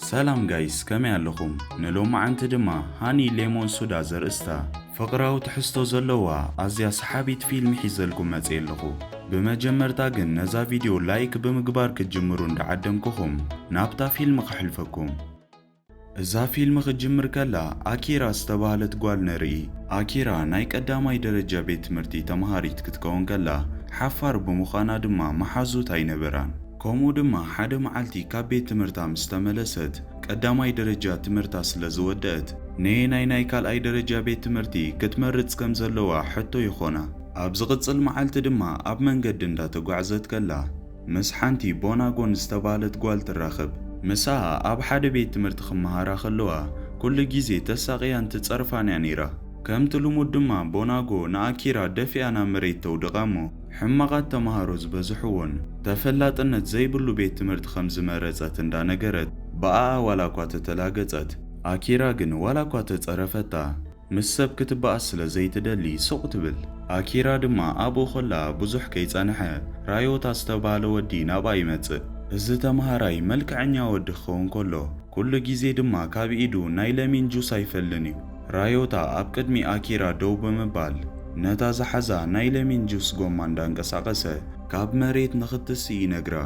ሰላም ጋይስ ከመይ ኣለኹም ንሎማዓንቲ ድማ ሃኒ ሌሞን ሱዳ ዘርእስታ ፍቕራዊ ትሕዝቶ ዘለዋ ኣዝያ ሰሓቢት ፊልም ሒዘልኩም መጽየ ኣለኹ ብመጀመርታ ግን ነዛ ቪድዮ ላይክ ብምግባር ክትጅምሩ እንዳዓደምኩኹም ናብታ ፊልም ከሕልፈኩም እዛ ፊልም ክትጅምር ከላ ኣኪራ ዝተባህለት ጓል ንርኢ። ኣኪራ ናይ ቀዳማይ ደረጃ ቤት ትምህርቲ ተማሃሪት ክትከውን ከላ፣ ሓፋር ብምዃና ድማ መሓዙት ኣይነበራን። ከምኡ ድማ ሓደ መዓልቲ ካብ ቤት ትምህርታ ምስ ተመለሰት፣ ቀዳማይ ደረጃ ትምህርታ ስለ ዝወደእት፣ ነየናይ ናይ ካልኣይ ደረጃ ቤት ትምህርቲ ክትመርጽ ከም ዘለዋ ሕቶ ይኾና። ኣብ ዝቕጽል መዓልቲ ድማ ኣብ መንገዲ እንዳተጓዕዘት ከላ፣ ምስ ሓንቲ ቦናጎን ዝተባህለት ጓል ትራኸብ። ምሳኣ ኣብ ሓደ ቤት ትምህርቲ ክመሃራ ከለዋ ኩሉ ግዜ ተሳቕያን ትጸርፋን'ያ ነይራ። ከምቲ ልሙድ ድማ ቦናጎ ንኣኪራ ደፊኣ ናብ መሬት ተውድቓ'ሞ ሕማቓት ተመሃሮ ዝበዝሕዎን ተፈላጥነት ዘይብሉ ቤት ትምህርቲ ከም ዝመረጸት እንዳነገረት ብኣኣ ዋላ'ኳ ተተላገጸት ኣኪራ ግን ዋላ'ኳ ተጸረፈታ ምስ ሰብ ክትበኣስ ስለ ዘይትደሊ ስቕ ትብል። ኣኪራ ድማ ኣብኡ ከላ ብዙሕ ከይጸንሐ ራዮታ ዝተባህለ ወዲ ናብኣ ይመጽእ። እዚ ተመሃራይ መልክዐኛ ወዲ ክኸውን ከሎ ኩሉ ግዜ ድማ ካብ ኢዱ ናይ ለሚን ጁስ ኣይፈልን እዩ። ራዮታ ኣብ ቅድሚ ኣኪራ ደው ብምባል ነታ ዝሓዛ ናይ ለሚን ጁስ ጎማ እንዳንቀሳቐሰ ካብ መሬት ንኽትስእ ይነግራ።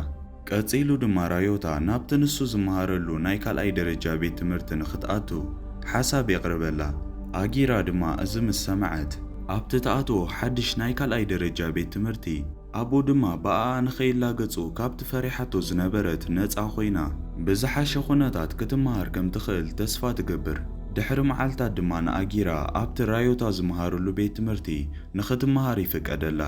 ቀጺሉ ድማ ራዮታ ናብቲ ንሱ ዝመሃረሉ ናይ ካልኣይ ደረጃ ቤት ትምህርቲ ንኽትኣቱ ሓሳብ የቕርበላ። ኣጊራ ድማ እዚ ምስ ሰምዐት፣ ኣብቲ ትኣትዎ ሓድሽ ናይ ካልኣይ ደረጃ ቤት ትምህርቲ ኣብኡ ድማ ብኣኣ ንኸይላገጹ ካብቲ ፈሪሓቶ ዝነበረት ነጻ ኮይና ብዝሓሸ ኩነታት ክትመሃር ከም ትኽእል ተስፋ ትገብር። ድሕሪ መዓልታት ድማ ንኣጊራ ኣብቲ ራዮታ ዝመሃረሉ ቤት ትምህርቲ ንኽትመሃር ይፍቀደላ።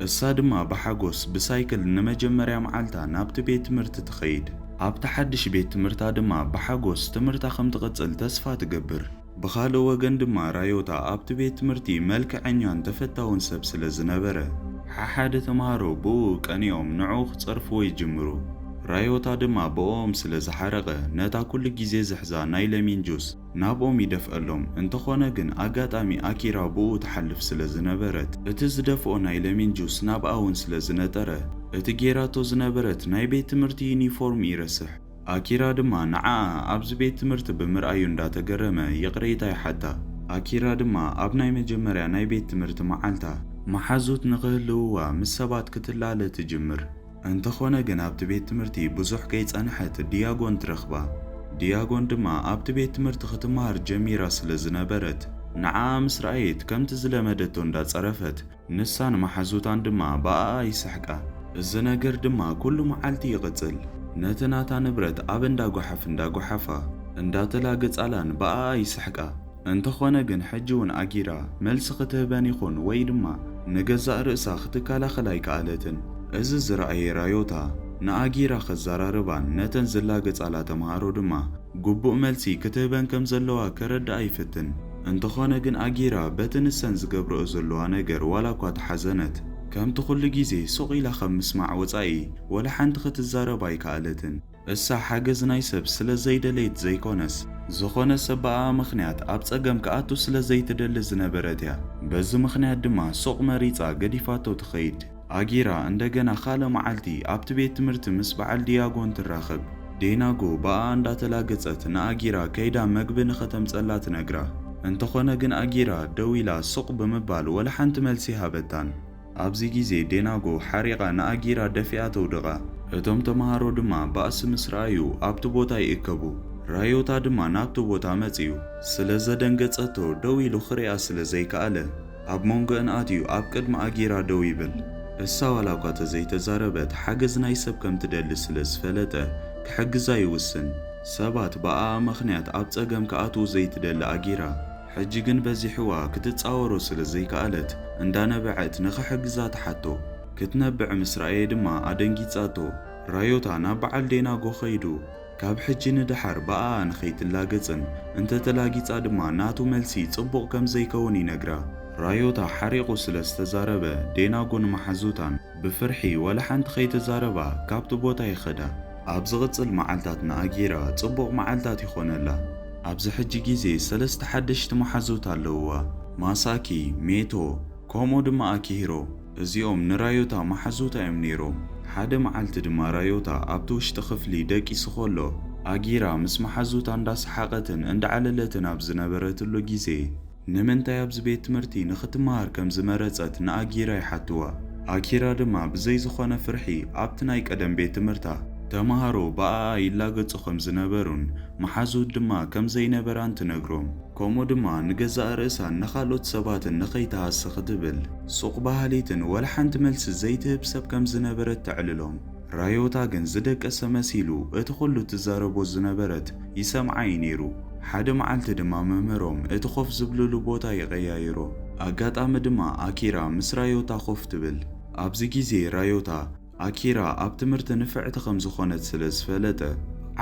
እሳ ድማ ብሓጎስ ብሳይክል ንመጀመርያ መዓልታ ናብቲ ቤት ትምህርቲ ትኸይድ። ኣብቲ ሓድሽ ቤት ትምህርታ ድማ ብሓጎስ ትምህርታ ከም ትቕጽል ተስፋ ትገብር። ብኻልእ ወገን ድማ ራዮታ ኣብቲ ቤት ትምህርቲ መልክዐኛን ተፈታውን ሰብ ስለ ዝነበረ፣ ሓሓደ ተማሃሮ ብእኡ ቀኒኦም ንዕኡ ክጸርፍዎ ይጅምሩ። ራዮታ ድማ ብእኦም ስለ ዝሓረቐ፣ ነታ ኩሉ ግዜ ዝሕዛ ናይ ለሚን ጁስ፣ ናብኦም ይደፍኣሎም። እንተኾነ ግን ኣጋጣሚ ኣኪራ ብኡኡ ትሓልፍ ስለ ዝነበረት እቲ ዝደፍኦ ናይ ለሚን ጁስ ናብኣ ውን ስለ ዝነጠረ እቲ ጌራቶ ዝነበረት ናይ ቤት ትምህርቲ ዩኒፎርም ይረስሕ። ኣኪራ ድማ ንዓኣ ኣብዚ ቤት ትምህርቲ ብምርኣዩ እንዳተገረመ ይቕሬታ ይሓታ። ኣኪራ ድማ ኣብ ናይ መጀመርያ ናይ ቤት ትምህርቲ መዓልታ መሓዙት ንኽህልውዋ ምስ ሰባት ክትላለ ትጅምር። እንተኾነ ግን ኣብቲ ቤት ትምህርቲ ብዙሕ ከይጸንሐት ዲያጎን ትረኽባ። ዲያጎን ድማ ኣብቲ ቤት ትምህርቲ ክትመሃር ጀሚራ ስለ ዝነበረት፣ ንዓኣ ምስ ረኣየት ከምቲ ዝለመደቶ እንዳ ጸረፈት፣ ንሳን መሓዙታን ድማ ብኣኣ ይስሕቃ። እዚ ነገር ድማ ኩሉ መዓልቲ ይቕጽል። ነቲ ናታ ንብረት ኣብ እንዳ ጓሓፍ እንዳ ጓሓፋ፣ እንዳ ተላግጻላን ብኣኣ ይስሕቃ። እንተኾነ ግን ሕጂ ውን ኣጊራ መልሲ ክትህበን ይኹን ወይ ድማ ንገዛእ ርእሳ ክትከላኸል ኣይከኣለትን። እዚ ዝረኣየ ራዮታ ንኣጊራ ከዘራርባን ነተን ዝላገጻላ ተመሃሮ ድማ ግቡእ መልሲ ክትህበን ከም ዘለዋ ከረድኣ ይፍትን። እንተኾነ ግን ኣጊራ በቲ ንሰን ዝገብረኦ ዘለዋ ነገር ዋላ እኳ ተሓዘነት ከምቲ ኩሉ ግዜ ሱቕ ኢላ ካብ ምስማዕ ወጻኢ ወላ ሓንቲ ክትዛረብ ኣይከኣለትን። እሳ ሓገዝ ናይ ሰብ ስለ ዘይደለየት ዘይኮነስ፣ ዝኾነ ሰብ ብኣኣ ምኽንያት ኣብ ጸገም ክኣቱ ስለ ዘይትደሊ ዝነበረት እያ። በዚ ምኽንያት ድማ ሱቕ መሪጻ ገዲፋቶ ትኸይድ። ኣጊራ እንደገና ካልእ መዓልቲ ኣብቲ ቤት ትምህርቲ ምስ በዓል ዲያጎን ትራኸብ። ዴናጎ ብኣኣ እንዳተላገጸት ንኣጊራ ከይዳ መግቢ ንኸተምጸላ ትነግራ። እንተኾነ ግን ኣጊራ ደው ኢላ ሱቕ ብምባል ወላ ሓንቲ መልሲ ኣይሃበታን። ኣብዚ ግዜ ዴናጎ ሓሪቓ ንኣጊራ ደፊኣ ተውድቓ። እቶም ተመሃሮ ድማ ባእሲ ምስ ረኣዩ ኣብቲ ቦታ ይእከቡ። ራዮታ ድማ ናብቲ ቦታ መጺኡ። ስለ ዘደንገጸቶ ደው ኢሉ ክሪኣ ስለ ዘይከኣለ ኣብ ሞንጎኣን ኣትዩ ኣብ ቅድሚ ኣጊራ ደው ይብል። እሳ ዋላኳ ተዘይተዛረበት ሓገዝ ናይ ሰብ ከም ትደሊ ስለ ዝፈለጠ ክሕግዛ ይውስን። ሰባት ብኣኣ ምኽንያት ኣብ ጸገም ክኣትዉ ዘይትደሊ ኣጊራ፣ ሕጂ ግን በዚሕዋ ክትጻወሮ ስለ ዘይከኣለት እንዳነበዐት ንኽሕግዛ ትሓቶ። ክትነብዕ ምስ ረኣየ ድማ ኣደንጊጻቶ። ራዮታ ናብ በዓል ዴናጎ ከይዱ ካብ ሕጂ ንደሓር ብኣኣ ንኸይትላገጽን እንተ ተላጊጻ ድማ ናቱ መልሲ ጽቡቕ ከም ዘይከውን ይነግራ። ራዮታ ሓሪቑ ስለ ዝተዛረበ ዴናጎን መሓዙታን። ብፍርሒ ዋላ ሓንቲ ከይተዛረባ ካብቲ ቦታ ይኸዳ። ኣብ ዝቕጽል መዓልታት ንኣጊራ ጽቡቕ መዓልታት ይኾነላ። ኣብዚ ሕጂ ግዜ ሰለስተ ሓደሽቲ መሓዙት ኣለዉዋ፣ ማሳኪ፣ ሜቶ፣ ከምኡ ድማ ኣኪሂሮ። እዚኦም ንራዮታ መሓዙታ እዮም ነይሮም። ሓደ መዓልቲ ድማ ራዮታ ኣብቲ ውሽጢ ክፍሊ ደቂሱ ከሎ፣ ኣጊራ ምስ መሓዙታ እንዳሰሓቐትን እንዳዓለለትን ኣብ ዝነበረትሉ ግዜ፣ ንምንታይ ኣብዚ ቤት ትምህርቲ ንኽትመሃር ከም ዝመረጸት ንኣጊራ ይሓትዋ። ኣኪራ ድማ ብዘይ ዝኾነ ፍርሒ ኣብቲ ናይ ቀደም ቤት ትምህርታ፣ ተመሃሮ ብኣኣ ይላገጹ ከም ዝነበሩን መሓዙት ድማ ከም ዘይነበራን ትነግሮም። ከምኡ ድማ ንገዛእ ርእሳን ንኻልኦት ሰባትን ንኸይትሃሲ ክትብል ሱቕ በሃሊትን ወላ ሓንቲ መልሲ ዘይትህብ ሰብ ከም ዝነበረት ተዕልሎም። ራዮታ ግን ዝደቀሰ መሲሉ እቲ ኩሉ ትዛረቦ ዝነበረት ይሰምዓ እዩ ነይሩ። ሓደ መዓልቲ ድማ መምህሮም እቲ ኮፍ ዝብልሉ ቦታ ይቀያይሮ። ኣጋጣሚ ድማ ኣኪራ ምስ ራዮታ ኮፍ ትብል። ኣብዚ ግዜ ራዮታ ኣኪራ ኣብ ትምህርቲ ንፍዕቲ ከም ዝኾነት ስለ ዝፈለጠ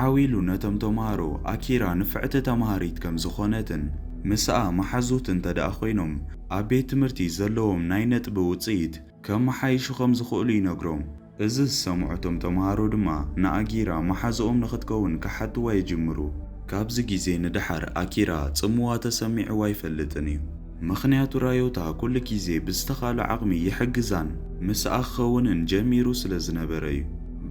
ዓው ኢሉ ነቶም ተማሃሮ ኣኪራ ንፍዕቲ ተማሃሪት ከም ዝኾነትን ምስኣ መሓዙት እንተድኣ ኮይኖም ኣብ ቤት ትምህርቲ ዘለዎም ናይ ነጥቢ ውጽኢት ከመሓይሹ ከም ዝኽእሉ ይነግሮም። እዚ ዝሰምዑ እቶም ተመሃሮ ድማ ንኣጊራ መሓዝኦም ንኽትከውን ክሓትዋ ይጅምሩ። ካብዚ ግዜ ንደሓር ኣኪራ ጽምዋ ተሰሚዕዋ ኣይፈልጥን እዩ። ምኽንያቱ ራዮታ ኩሉ ግዜ ብዝተኻእሎ ዓቕሚ ይሕግዛን ምስኣ ክኸውንን ጀሚሩ ስለ ዝነበረ እዩ።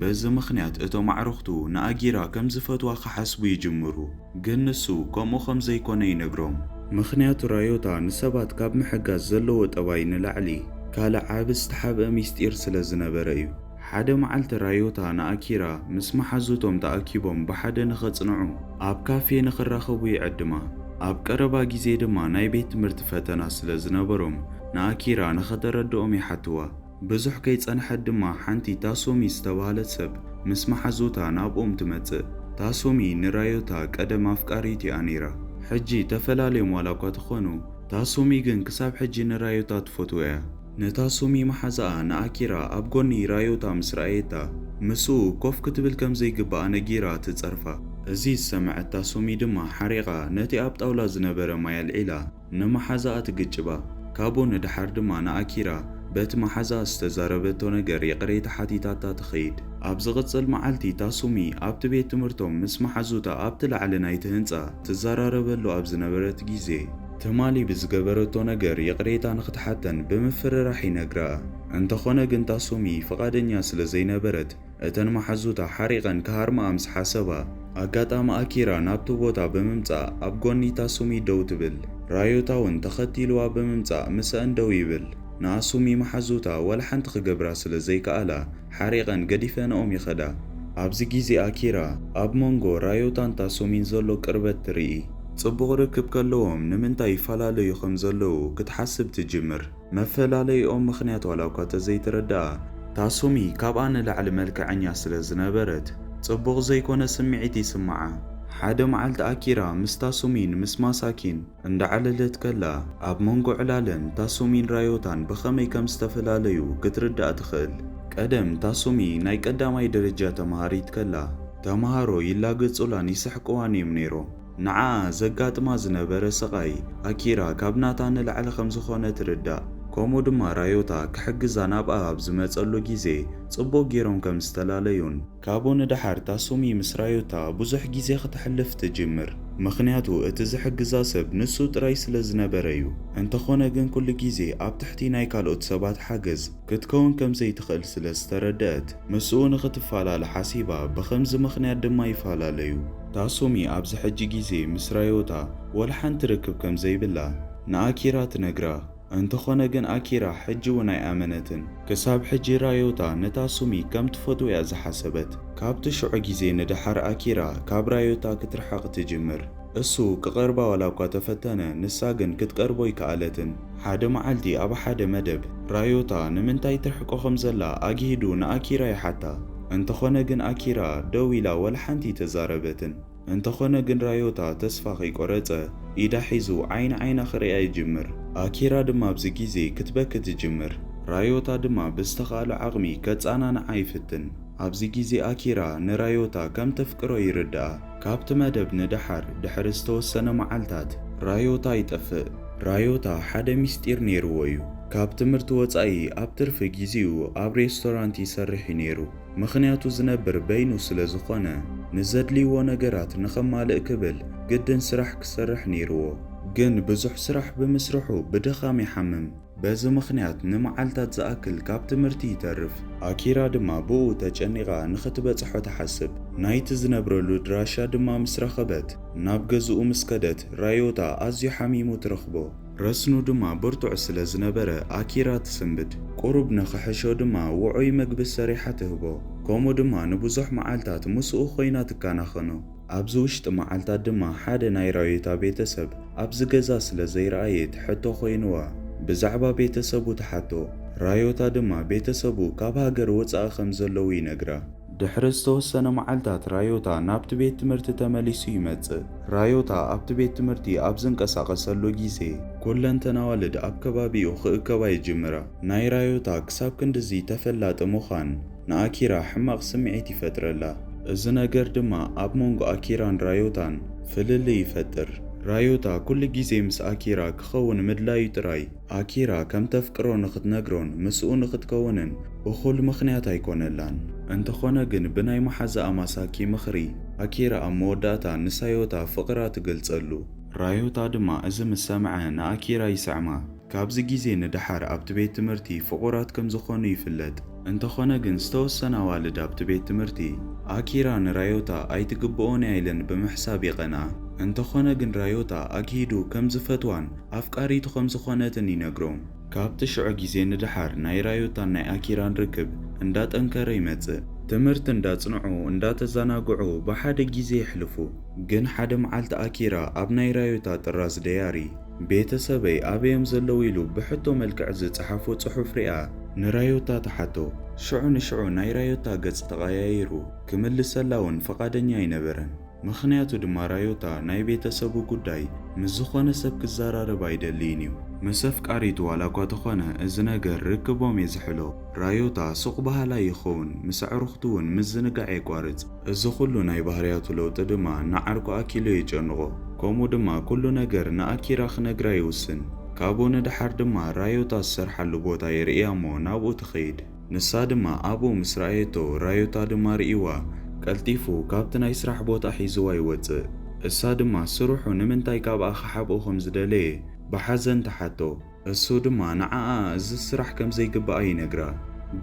በዚ ምኽንያት እቶም ኣዕሩኽቱ ንኣጊራ ከም ዝፈትዋ ክሓስቡ ይጅምሩ። ግን ንሱ ከምኡ ከም ዘይኰነ ይነግሮም። ምኽንያቱ ራዮታ ንሰባት ካብ ምሕጋዝ ዘለዎ ጠባይ ንላዕሊ ካልእ ዓቢ ዝተሓብአ ምስጢር ስለ ዝነበረ እዩ። ሓደ መዓልቲ ራዮታ ንኣኪራ ምስ መሓዙቶም ተኣኪቦም ብሓደ ንኸጽንዑ ኣብ ካፌ ንኽራኸቡ ይዕድማ። ኣብ ቀረባ ግዜ ድማ ናይ ቤት ትምህርቲ ፈተና ስለ ዝነበሮም ንኣኪራ ንኸተረድኦም ይሓትዋ። ብዙሕ ከይጸንሐት ድማ ሓንቲ ታሶሚ ዝተባህለት ሰብ ምስ መሓዙታ ናብኦም ትመጽእ። ታሶሚ ንራዮታ ቀደም ኣፍቃሪቲ'ያ ነይራ። ሕጂ ተፈላልዮም ዋላ'ኳ ተኾኑ፣ ታሶሚ ግን ክሳብ ሕጂ ንራዮታ ትፈትዎ'ያ። ንታሶሚ መሓዛኣ ንኣኪራ ኣብ ጎኒ ራዮታ ምስ ረኣየታ፣ ምስኡ ኮፍ ክትብል ከም ዘይግብኣ ነጊራ ትጸርፋ። እዚ ዝሰምዐት ታሶሚ ድማ ሓሪቓ ነቲ ኣብ ጣውላ ዝነበረ ማይ ኣልዒላ። ንመሓዛኣ ትግጭባ፣ ካብኡ ንደሓር ድማ ንኣኪራ በቲ መሓዛኣ ዝተዛረበቶ ነገር ይቕሬታ ሓቲታታ ትኸይድ። ኣብ ዝቕጽል መዓልቲ ታሱሚ ኣብቲ ቤት ትምህርቶም ምስ መሓዙታ ኣብቲ ላዕሊ ናይቲ ህንጻ ትዘራረበሉ ኣብ ዝነበረት ግዜ፣ ትማሊ ብዝገበረቶ ነገር ይቕሬታ ንኽትሓተን ብምፍርራሕ ይነግራ። እንተኾነ ግን ታሱሚ ፍቓደኛ ስለ ዘይነበረት እተን መሓዙታ ሓሪቐን ክሃርምኣ ምስ ሓሰባ፣ ኣጋጣሚ ኣኪራ ናብቲ ቦታ ብምምጻእ ኣብ ጎኒ ታሱሚ ደው ትብል። ራዮታ'ውን ተኸቲሉዋ ብምምጻእ ምሰኣን ደው ይብል። ንኣሱሚ መሓዙታ ዋላ ሓንቲ ክገብራ ስለ ዘይከኣላ ሓሪቐን ገዲፈንኦም ይኸዳ። ኣብዚ ግዜ ኣኪራ ኣብ መንጎ ራዮታን ታሱሚን ዘሎ ቅርበት ትርኢ። ጽቡቕ ርክብ ከለዎም ንምንታይ ይፈላለዩ ከም ዘለዉ ክትሓስብ ትጅምር። መፈላለይኦም ምኽንያት ዋላኳ ተዘይተረደኣ፣ ታሱሚ ካብኣ ንላዕሊ መልክዐኛ ስለ ዝነበረት ጽቡቕ ዘይኮነ ስምዒት ይስምዓ። ሓደ መዓልቲ ኣኪራ ምስ ታሱሚን ምስ ማሳኪን እንዳዕለለት ከላ፣ ኣብ መንጎ ዕላለን ታሱሚን ራዮታን ብኸመይ ከም ዝተፈላለዩ ክትርዳእ ትኽእል። ቀደም ታሱሚ ናይ ቀዳማይ ደረጃ ተመሃሪት ከላ፣ ተመሃሮ ይላገጹላን ይስሕቅዋን'ዮም ነይሮም። ንዓኣ ዘጋጥማ ዝነበረ ስቓይ ኣኪራ ካብ ናታ ንላዕሊ ከም ዝኾነ ትርዳእ። ከምኡ ድማ ራዮታ ክሕግዛ ናብኣ ኣብ ዝመጸሉ ግዜ ጽቡቕ ጌሮም ከም ዝተላለዩን። ካብኡ ንደሓር ታሱሚ ምስ ራዮታ ብዙሕ ግዜ ክተሕልፍ ትጅምር። ምኽንያቱ እቲ ዝሕግዛ ሰብ ንሱ ጥራይ ስለ ዝነበረ'ዩ። እንተኾነ ግን ኩሉ ግዜ ኣብ ትሕቲ ናይ ካልኦት ሰባት ሓገዝ ክትከውን ከም ዘይትኽእል ስለ ዝተረደኣት። ምስኡ ንኽትፋላለ ሓሲባ፣ ብኸምዚ ምኽንያት ድማ ይፋላለዩ። ታሱሚ ኣብዚ ሕጂ ግዜ ምስ ራዮታ ዋላ ሓንቲ ርክብ ከም ዘይብላ ንኣኪራ ትነግራ፣ እንተዀነ ግን ኣኪራ ሕጂ'ውን ኣይኣመነትን። ክሳብ ሕጂ ራዮታ ንታሱሚ ከም ትፈትዎ'ያ ዝሓሰበት። ካብቲ ሽዑ ግዜ ንደሓር ኣኪራ ካብ ራዮታ ክትርሕቕ ትጅምር። እሱ ክቐርባ ዋላኳ ተፈተነ፣ ንሳ ግን ክትቀርቦ ኣይከኣለትን። ሓደ መዓልቲ ኣብ ሓደ መደብ፣ ራዮታ ንምንታይ ትርሕቆ ከም ዘላ ኣግሂዱ ንኣኪራ ይሓታ። እንተኾነ ግን ኣኪራ ደው ኢላ ዋላ ሓንቲ ኣይተዛረበትን። እንተኾነ ግን ራዮታ ተስፋ ከይቆረጸ ኢዳ ሒዙ ዓይኒ ዓይና ክርእያ ይጅምር። ኣኪራ ድማ ኣብዚ ግዜ ክትበኪ ትጅምር። ራዮታ ድማ ብዝተኻእሎ ዓቕሚ ከጸናንዓ ይፍትን። ኣብዚ ግዜ ኣኪራ ንራዮታ ከም ተፍቅሮ ይርድኣ። ካብቲ መደብ ንደሓር ድሕሪ ዝተወሰነ መዓልታት ራዮታ ይጠፍእ። ራዮታ ሓደ ምስጢር ነይርዎ እዩ። ካብ ትምህርቲ ወጻኢ ኣብ ትርፊ ግዜኡ ኣብ ሬስቶራንት ይሰርሕ እዩ ነይሩ። ምኽንያቱ ዝነብር በይኑ ስለ ዝኾነ ንዘድልይዎ ነገራት ንኸማልእ ክብል ግድን ስራሕ ክሰርሕ ነይርዎ። ግን ብዙሕ ስራሕ ብምስርሑ ብድኻም ይሓምም። በዚ ምኽንያት ንመዓልታት ዝኣክል ካብ ትምህርቲ ይተርፍ። ኣኪራ ድማ ብእኡ ተጨኒቓ ንኽትበጽሖ ትሓስብ። ናይቲ ዝነብረሉ ኣድራሻ ድማ ምስ ረኸበት፣ ናብ ገዝኡ ምስ ከደት፣ ራዮታ ኣዝዩ ሓሚሙ ትረኽቦ። ረስኑ ድማ ብርቱዕ ስለ ዝነበረ፣ ኣኪራ ትስንብድ። ቁሩብ ንኽሕሾ ድማ ውዑይ መግቢ ሰሪሓ ትህቦ። ከምኡ ድማ ንብዙሕ መዓልታት ምስኡ ኾይና ትከናኸኖ። ኣብዚ ውሽጢ መዓልታት ድማ ሓደ ናይ ራዮታ ቤተሰብ ኣብዚ ገዛ ስለ ዘይረኣየ እቲ ሕቶ ኮይንዋ ብዛዕባ ቤተሰቡ ትሓቶ። ራዮታ ድማ ቤተሰቡ ካብ ሃገር ወጻኢ ከም ዘለዉ ይነግራ። ድሕሪ ዝተወሰነ መዓልታት ራዮታ ናብቲ ቤት ትምህርቲ ተመሊሱ ይመጽእ። ራዮታ ኣብቲ ቤት ትምህርቲ ኣብ ዝንቀሳቐሰሉ ግዜ። ኩለንተን ኣዋልድ ኣብ ከባቢኡ ክእከባ ይጅምራ። ናይ ራዮታ ክሳብ ክንድዚ ተፈላጢ ምዃን። ንኣኪራ ሕማቕ ስምዒት ይፈጥረላ። እዚ ነገር ድማ ኣብ መንጎ ኣኪራን ራዮታን ፍልልይ ይፈጥር። ራዮታ ኩሉ ግዜ ምስ ኣኪራ ክኸውን ምድላዩ ጥራይ፣ ኣኪራ ከም ተፍቅሮ ንኽትነግሮን ምስኡ ንኽትከውንን እኹል ምኽንያት ኣይኮነላን። እንተኾነ ግን ብናይ መሓዛኣ ማሳኪ ምኽሪ፣ ኣኪራ ኣብ መወዳእታ ንሳዮታ ፍቕራ ትገልጸሉ። ራዮታ ድማ እዚ ምስ ሰምዐ ንኣኪራ ይስዕማ። ካብዚ ግዜ ንደሓር ኣብቲ ቤት ትምህርቲ ፍቑራት ከም ዝዀኑ ይፍለጥ። እንተዀነ ግን ዝተወሰነ ኣዋልድ ኣብቲ ቤት ትምህርቲ፣ ኣኪራ ንራዮታ ኣይትግብኦን እያ ኢለን ብምሕሳብ ይቐንኣ። እንተዀነ ግን ራዮታ ኣግሂዱ ከም ዝፈትዋን ኣፍቃሪቱ ከም ዝዀነትን ይነግሮም። ካብቲ ሽዑ ግዜ ንደሓር ናይ ራዮታን ናይ ኣኪራን ርክብ እንዳጠንከረ ይመጽእ። ትምህርቲ እንዳጽንዑ እንዳተዛናግዑ ብሓደ ግዜ የሕልፉ። ግን ሓደ መዓልቲ ኣኪራ ኣብ ናይ ራዮታ ጥራዝ ደያሪ፣ ቤተሰበይ ኣበይ'ዮም ዘለዉ? ኢሉ ብሕቶ መልክዕ ዝጸሓፎ ጽሑፍ ርኣ። ንራዮታ ተሓቶ። ሽዑ ንሽዑ ናይ ራዮታ ገጽ ተቐያይሩ ክምልሰላ'ውን ፍቓደኛ ኣይነበረን። ምኽንያቱ ድማ ራዮታ ናይ ቤተሰቡ ጉዳይ ምስ ዝኾነ ሰብ ክዘራረብ ኣይደልይን'ዩ። ምስ ኣፍቃሪቱ ዋላ'ኳ ተኾነ እዚ ነገር ርክቦም'የ ዝሕሎ። ራዮታ ሱቕ በሃላይ ይኸውን፣ ምስ ኣዕሩኽቱ'ውን ምዝንጋዕ የቋርጽ። እዚ ኹሉ ናይ ባህርያቱ ለውጢ ድማ ንዓርኩ ኣኪሉ የጨንቖ። ከምኡ ድማ ኩሉ ነገር ንኣኪራ ክነግራ ይውስን። ካብኡ ንደሓር ድማ ራዮታ ዝሰርሓሉ ቦታ የርእያ እሞ ናብኡ ትኸይድ። ንሳ ድማ ኣብኡ ምስ ረኣየቶ ራዮታ ድማ ርእይዋ ቀልጢፉ ካብቲ ናይ ስራሕ ቦታ ሒዝዋ ይወጽእ። እሳ ድማ ስርሑ ንምንታይ ካብኣ ክሓብኦ ከም ዝደለየ ብሓዘን ትሓቶ። እሱ ድማ ንዓኣ እዚ ስራሕ ከም ዘይግብኣ ይነግራ።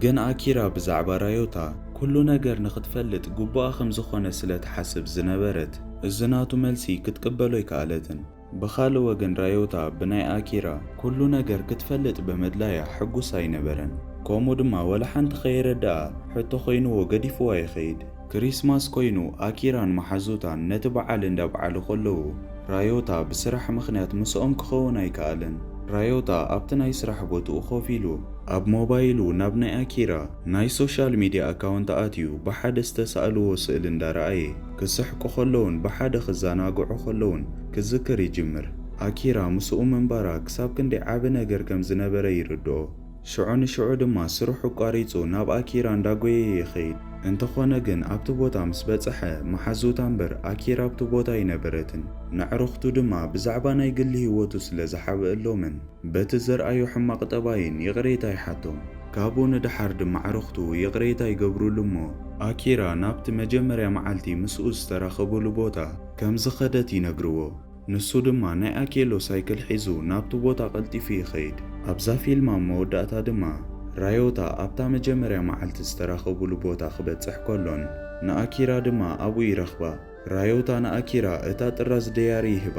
ግን ኣኪራ ብዛዕባ ራዮታ ኩሉ ነገር ንኽትፈልጥ ግቡኣ ከም ዝኾነ ስለ ትሓስብ ዝነበረት እዚ ናቱ መልሲ ክትቅበሎ ኣይከኣለትን። ብኻልእ ወገን ራዮታ ብናይ ኣኪራ ኩሉ ነገር ክትፈልጥ ብምድላያ ሕጉስ ኣይነበረን። ከምኡ ድማ ወላ ሓንቲ ከየረድኣ ሕቶ ኮይንዎ ገዲፍዋ ይኸይድ። ክሪስማስ ኮይኑ ኣኪራን መሓዙታን ነቲ በዓል እንዳብዓሉ ከለዉ ራዮታ ብስራሕ ምኽንያት ምስኦም ክኸውን ኣይከኣለን። ራዮታ ኣብቲ ናይ ስራሕ ቦትኡ ኮፍ ኢሉ ኣብ ሞባይሉ ናብ ናይ ኣኪራ ናይ ሶሻል ሚድያ ኣካውንት ኣትዩ ብሓደ ዝተሳእልዎ ስእሊ እንዳረኣየ ክስሕቁ ከለዉን ብሓደ ክዘናግዑ ከለዉን ክዝክር ይጅምር። ኣኪራ ምስኡ ምንባራ ክሳብ ክንደይ ዓቢ ነገር ከም ዝነበረ ይርድኦ። ሽዑ ንሽዑ ድማ ስርሑ ኣቋሪጹ ናብ ኣኪራ እንዳጎየየ ይኸይድ። እንተኾነ ግን ኣብቲ ቦታ ምስ በጸሐ መሓዙታ እምበር ኣኪራ ኣብቲ ቦታ ኣይነበረትን። ነዕርኽቱ ድማ ብዛዕባ ናይ ግሊ ህይወቱ ስለ ዝሓብእሎምን በቲ ዘርኣዮ ሕማቕ ጠባይን ይቕሬታ ይሓቶም። ካብኡ ንደሓር ድማ ኣዕርኽቱ ይቕሬታ ይገብሩሉ እሞ ኣኪራ ናብቲ መጀመርያ መዓልቲ ምስኡ ዝተራኸቡሉ ቦታ ከም ዝኸደት ይነግርዎ። ንሱ ድማ ናይ ኣኬሎ ሳይክል ሒዙ ናብቲ ቦታ ቀልጢፉ ይኸይድ። ኣብዛ ፊልም ኣብ መወዳእታ ድማ ራዮታ ኣብታ መጀመርያ መዓልቲ ዝተራኸቡሉ ቦታ ክበጽሕ ከሎን ንኣኪራ ድማ ኣብኡ ይረኽባ። ራዮታ ንኣኪራ እታ ጥራዝ ደያሪ ይህባ።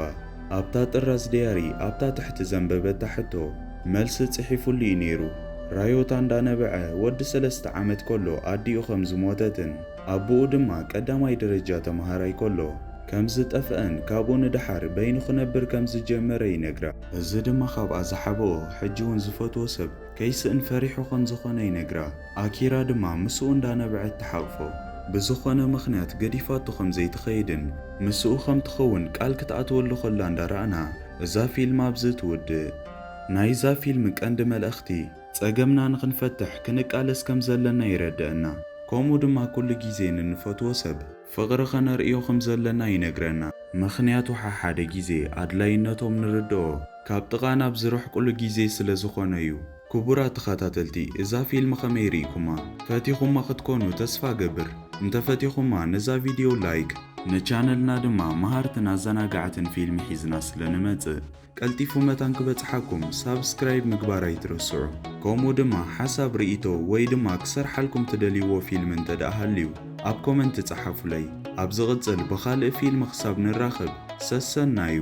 ኣብታ ጥራዝ ደያሪ ኣብታ ትሕቲ ዘንበበታ ሕቶ መልሲ ጽሒፉሉ እዩ ነይሩ። ራዮታ እንዳነበዐ ወዲ ሰለስተ ዓመት ከሎ ኣዲኡ ከም ዝሞተትን፣ ኣቡኡ ድማ ቀዳማይ ደረጃ ተመሃራይ ከሎ ከም ዝጠፍኣን ካብኡ ንደሓር በይኑ ክነብር ከም ዝጀመረ ይነግራ። እዚ ድማ ካብኣ ዝሓበኦ ሕጂ'ውን ዝፈትዎ ሰብ ከይስእን ፈሪሑ ከም ዝኾነ ይነግራ። ኣኪራ ድማ ምስኡ እንዳነበዐት ትሓቕፎ። ብዝኾነ ምኽንያት ገዲፋቶ ከም ዘይትኸይድን ምስኡ ከም ትኸውን ቃል ክትኣትወሉ ከላ እንዳረኣና እዛ ፊልም ኣብዚ ትውድእ። ናይዛ ፊልም ቀንዲ መልእኽቲ። ጸገምና ንኽንፈትሕ ክንቃለስ ከም ዘለና ይረደእና። ከምኡ ድማ ኩሉ ግዜ ንንፈትዎ ሰብ ፍቕሪ ከነርእዮ ከም ዘለና ይነግረና። ምኽንያቱ ሓሓደ ግዜ ኣድላይነቶም ንርደኦ ካብ ጥቓና ኣብ ዝርሕቁሉ ግዜ ስለ ዝኾነ'ዩ። ክቡራት ተኸታተልቲ እዛ ፊልም ከመይ ርኢኩማ? ፈቲኹማ ክትኮኑ ተስፋ እገብር። እንተፈቲኹማ ነዛ ቪድዮ ላይክ። ንቻነልና ድማ መሃርትን ኣዘናጋዕትን ፊልሚ ሒዝና ስለ ንመጽእ። ቀልጢፉ መታን ክበጽሓኩም ሳብስክራይብ ምግባር ኣይትረስዑ ከምኡ ድማ ሓሳብ ርኢቶ ወይ ድማ ክሰርሓልኩም ትደልይዎ ፊልም እንተ ደኣ ሃልዩ ኣብ ኮመንት ጸሓፉለይ ኣብ ዝቕጽል ብኻልእ ፊልም ክሳብ ንራኸብ ሰሰናዩ።